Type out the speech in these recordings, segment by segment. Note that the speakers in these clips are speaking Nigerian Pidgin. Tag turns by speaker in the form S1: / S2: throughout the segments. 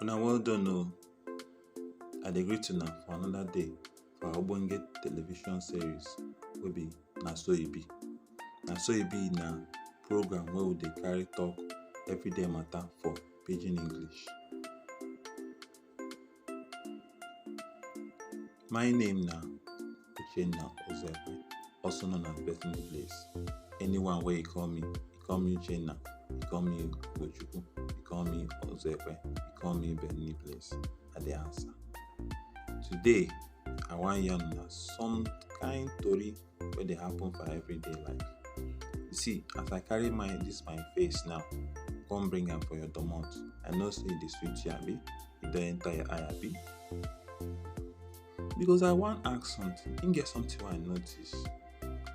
S1: Una well done o. I dey greet una for another day for our ogbonge television series wey be Na So E Be. Na So E Be na program wey we dey carry talk everyday matter for pidgin English. My name na Uchenna Ozepe, also known as Bethany Blaze. Anyone where you call me, you call me Uchenna, you call me Gochuku, you call me Ozepe, you call me Bethany Blaze. I dey answer. Today, I wan yarn una some kind tori wey dey happen for everyday life. You see as I carry my dis my face now come bring am for your domot, I know sey e dey sweet you abi? E don enter your eye abi? Because I wan ask something, e get something wey I notice.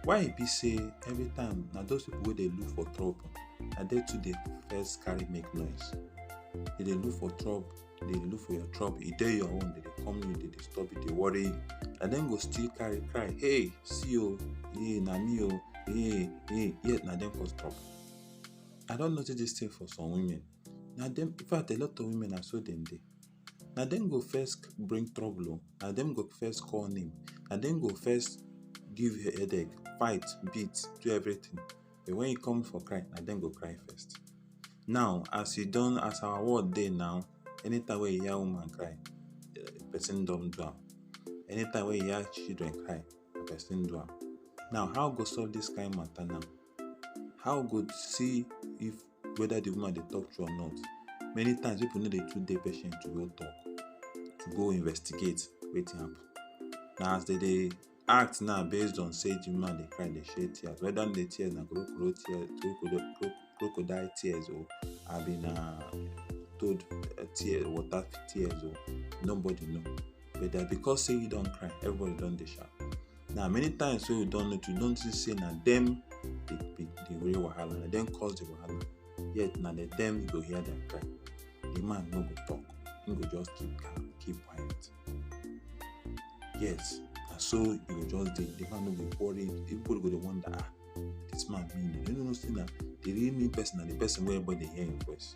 S1: Why e be sey every time na those pipu wey dey look for trouble na dem too dey first carry make noise, dem dey look for trouble. dey look for your trouble e dey your own dey dey come you dey disturb you dey worry you na dem go still carry cry hey see o hey na me o hey hey yet na dem cause trouble i don notice this thing for some women na dem in fact a lot of women na so dem dey na dem go first bring trouble o na dem go first call name na dem go first give headache fight beat do everything but wen e come for cry na dem go cry first. Now as e don as our world dey now anytime wey you hear woman cry person don do am anytime wey you hear children cry person do am. Now how we go solve dis kain mata now? How we go see if whether de woman dey talk true or not? Many times pipu no dey too dey patient to go talk to go investigate wetin happen. Na as dem dey act now based on say the woman dey cry dey shed tears whether the tears na crocodile tears crocodile crocodile tears o abi na toad eh, tears water tears o nobody know but that because say you don cry everybody don dey shout now many times wey you don notice you don see say na dem dey be the real wahala na dem cause the wahala yet na the dem you go hear their cry the man no go talk he go just keep calm keep quiet yes na so you go just dey the man no go worry everybody go dey wonder ah this man mean o you no know say na the real mean person na the person wey everybody dey hear him voice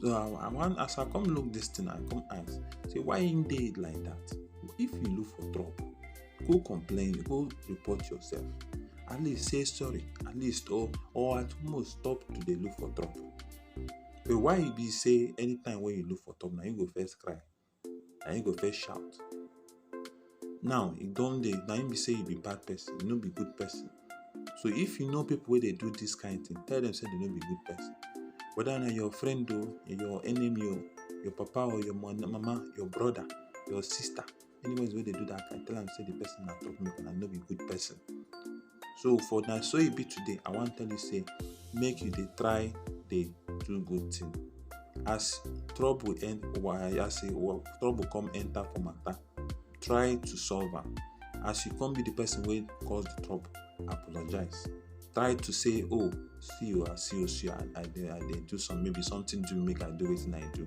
S1: so i i wan as i come look this thing i come ask say why him dey like that if you look for trouble go complain go report yourself at least say sorry at least or or at most stop to dey look for trouble So why e be say anytime when you look for top, now you go first cry, now you go first shout. Now e don dey, now you be say you be bad person, you no be good person. So if you know people where they do this kind of thing, tell them say they no be good person. Whether na your friend o, your enemy o, your papa or your mama, your brother, your sister, anyways wey dey do that i tell am say the person na top make and i no be good person so for na so e be today i wan tell you say make you dey try dey do good thing as trouble end i say trouble come enter for matter try to solve am as you come be the person wey cause the trouble apologize try to say oh see you i see you see i dey i dey do some maybe something do make i do wetin i do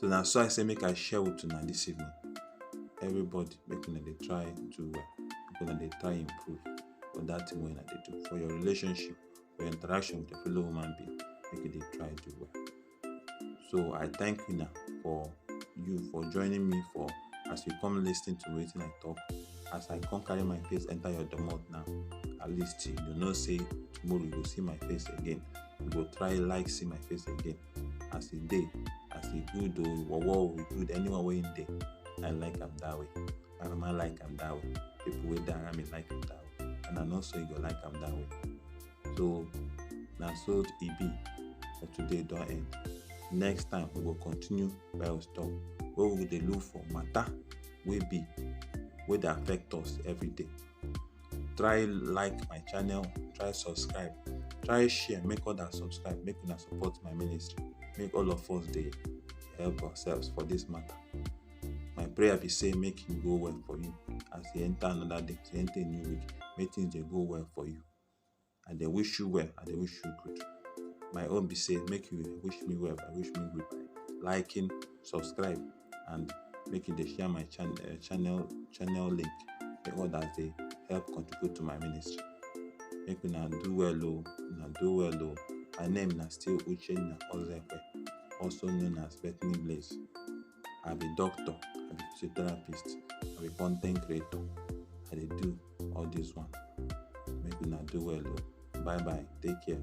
S1: so na so i say make i share with una this evening everybody make una dey try do well make una dey try improve for that thing wey una dey do for your relationship for your interaction with your fellow human being make you dey try do well so i thank you now for you for joining me for as you come lis ten to wetin i talk as i come carry my face enter your domot now at least you know say tomorrow you go see my face again you go try like see my face again as e dey as e good o wowo e good anyone wey im dey i like am that way arama like am that way people wey dey around me like am that way and i know say you go like am that way so na so e be for today don end next time we go continue bible talk wey we go dey look for matter wey be wey dey affect us every day try like my channel try subscribe try share make others subscribe make una support my ministry make all of us dey help ourselves for this matter my prayer be say make e go well for you as you enter another day as you enter a new week make things dey go well for you I dey wish you well, I dey wish you good. My own be say make you wish me well, I wish me good by liking, subscribe and make you dey share my chan uh, channel channel link make others dey help contribute to my ministry. Make una do well o, una do well o. My name na still Uchenna Ozekwe, also known as Bethany Blaze. I be doctor, I be physiotherapist, I be content creator. I dey do all this one. Make una do well o. Bye bye. Take care.